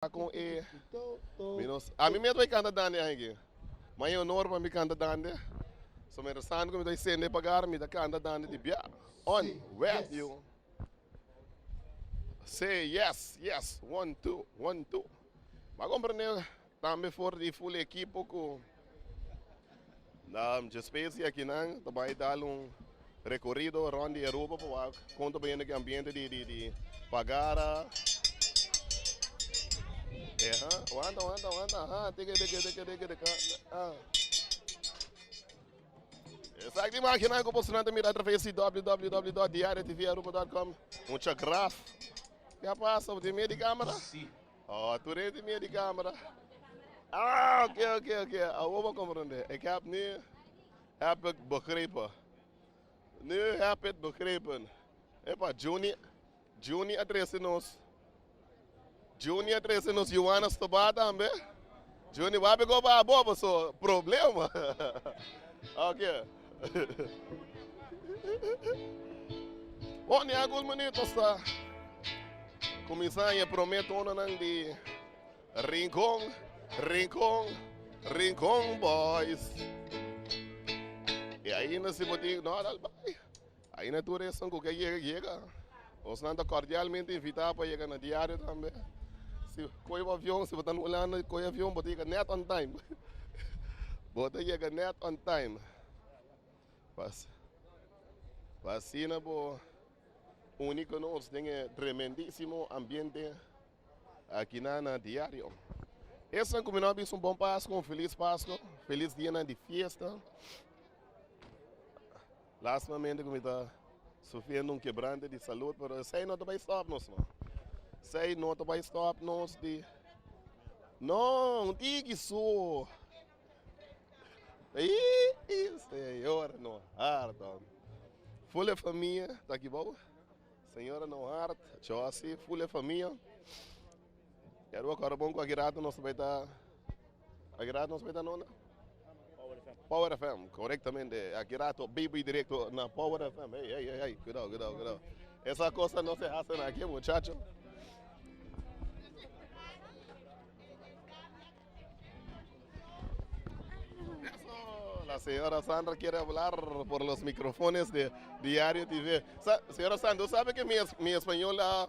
Ta con e mi no sa. A mi mester bay canta dande ange. Mai honor pa mi canta dande. So mester santo cu mi ta bay sende pagar mi ta canta dande di bia. On, wet, yo. Say yes, yes, one, two, one, two. Ba comprende tambe for di full ekipo cu. Na Jespesi aki nan ta bai dal un rekorido rond di Eropa pa wak kon ta bañando ki ambiente di pagara. Esaki ta imagennan ku por nan ta mira atraves di www.diariotveuropa.com un chagraf. Ke a pasa? Bo tin medio di kamera? Oh a turé tin miedo di camera. Ah ok ok ok awor bo comprende. Ik heb nu heb ik begrepen. Nu heb it begrepen. Epa Johnny Johnny a trece nos Johnny a trece nos Johanna Stobá tambe. Johnny wabi go ba bobo so problema oke bo ni algun manera esta kuminsá e promé tonanan di rinkon rinkon rinkon boys e ainda si bo tin no a dal bai. Aina tur esnan ku ke yega, yega. Osnan ta kordialmente invitá pa yega na diario tambe. Si bo koi bo avion, si bo ta na Hulanda i koi avion, bo ta yega nèt on taim. Bo ta yega nèt on taim, pa pa asina bo uni ku nos den e tremendísimo ambiente akinan na diario. Esnan ku mi no a bisa un Bon Paskua, un Feliz Paskua, felis dianan di fiesta. Lastimamente cu mi ta sufriendo un quebrante di salud, pero esey no ta bay stop nos no. Esey no ta bay stop nos di no un tiki su. Eii Señor no hart hombre. Full e famia ta aki bow. Señor no hart, Josie, full e famia. Ya lo kòrda bon ku aki rato nos ta bai ta aki rato nos ta bai ta nona? Power FM Power FM korektamente aki rato bibu i direkto na Power FM ei ei ei ei kuidao kuidao kuidao esa kosa no se hase na aki muchacho eso la señora Sandra kiere hablar por los mikrofones de Diario TV sa señora Sandra u sabe ke mi mi español a.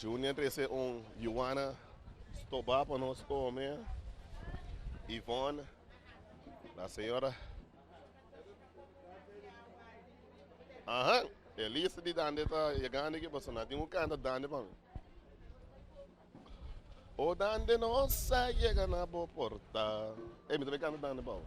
Junior trese un yuana stoba pa nos come Yvonne la señora ahan e lista di dande ta yegando aki paso nan tin un kanta dande pa mi o dande no sa yega na bo porta ey mi ta bay kanta dande pa bo.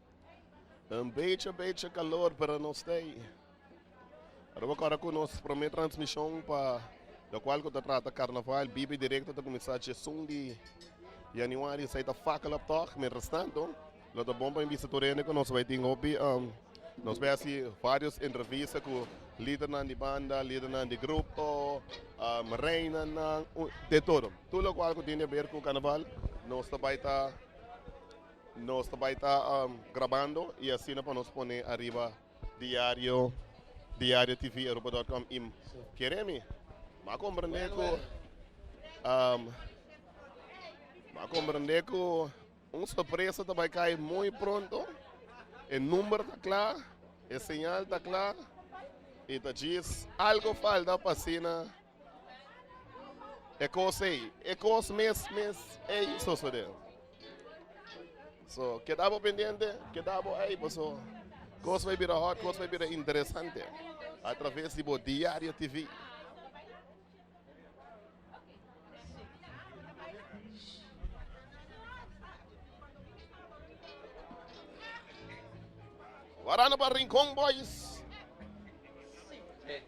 Un becha becha calor para nos stay. Aruba cora cu nos prome transmision pa lo cual cu ta trata carnaval bibi directo ta comenzar che sun di januari sai ta fakkel op toch. Mientras tanto, lo ta bon pa invisa tu rende cu nos bay tin hopi um, nos bay hasi varios entrevista cu lidernan di banda, lidernan di grupo, um, reinanan, u- de todo. Todo lo cual cu tin de ver cu carnaval, nos ta bay ta Nos ta bai ta grabando y asina pa nos pone ariba diario diario TV Aruba dot com y Jeremy m'a comprende cu m'a comprende cu un sorpresa ta bai cay muy pronto e number ta cla e señal ta cla y ta djis algo falta pa asina. E cos ey, e cos mes mes ey sosode. So, kedabo pendiente, kedabo ey, paso cos wey bira hot, cos wey bira interesante a traves di bo diario TV. Warano pa Rincon Boys.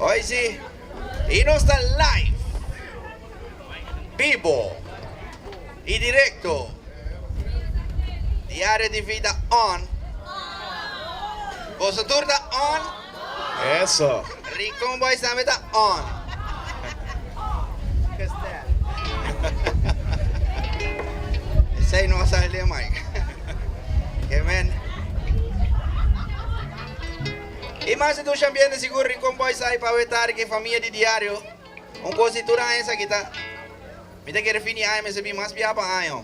Oi si, y nos ta live, bibo y directo Diario di Vida on. Boso tur ta on. Eso. Ricon boys tambe ta on. Esey no a sali den mic. Amen. Y mas tu también de seguro Ricon boys ay pa weta de que familia di diario. Un cos di tur aña esaki ta. Mi ta kere fini año mester bin mas bia pa año.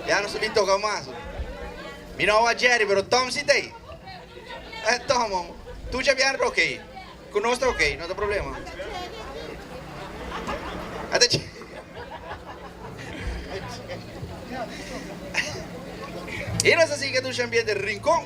Ya no su bin toka mas. Mi no awa Jerry pero Tom si ta ei. Eh Tom oh. Tu chabiana ta ok. Ku nos ta ok, no ta problema. Ata Jerry. Hira sa siga dusha ambiente rincon.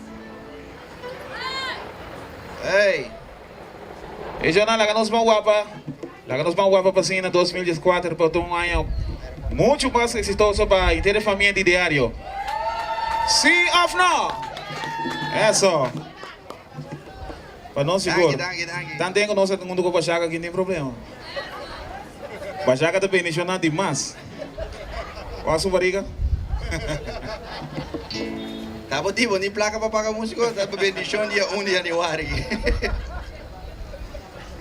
Hey! E jornal laga nos ban wapa, laga nos ban wapa pa sin na 2014 pa ta un aña mucho mas exitoso pa Inter e Famia di Diario. Si of no? Eso. pa nos sigur. Tan den ku nos a huntu ku Bashaka aki no tin problema. Bashaka ta bendishoná di mas. Wak su bariga. Ta bo di bo ni plaka pa paga músiko ta bendishon dia un di Januari.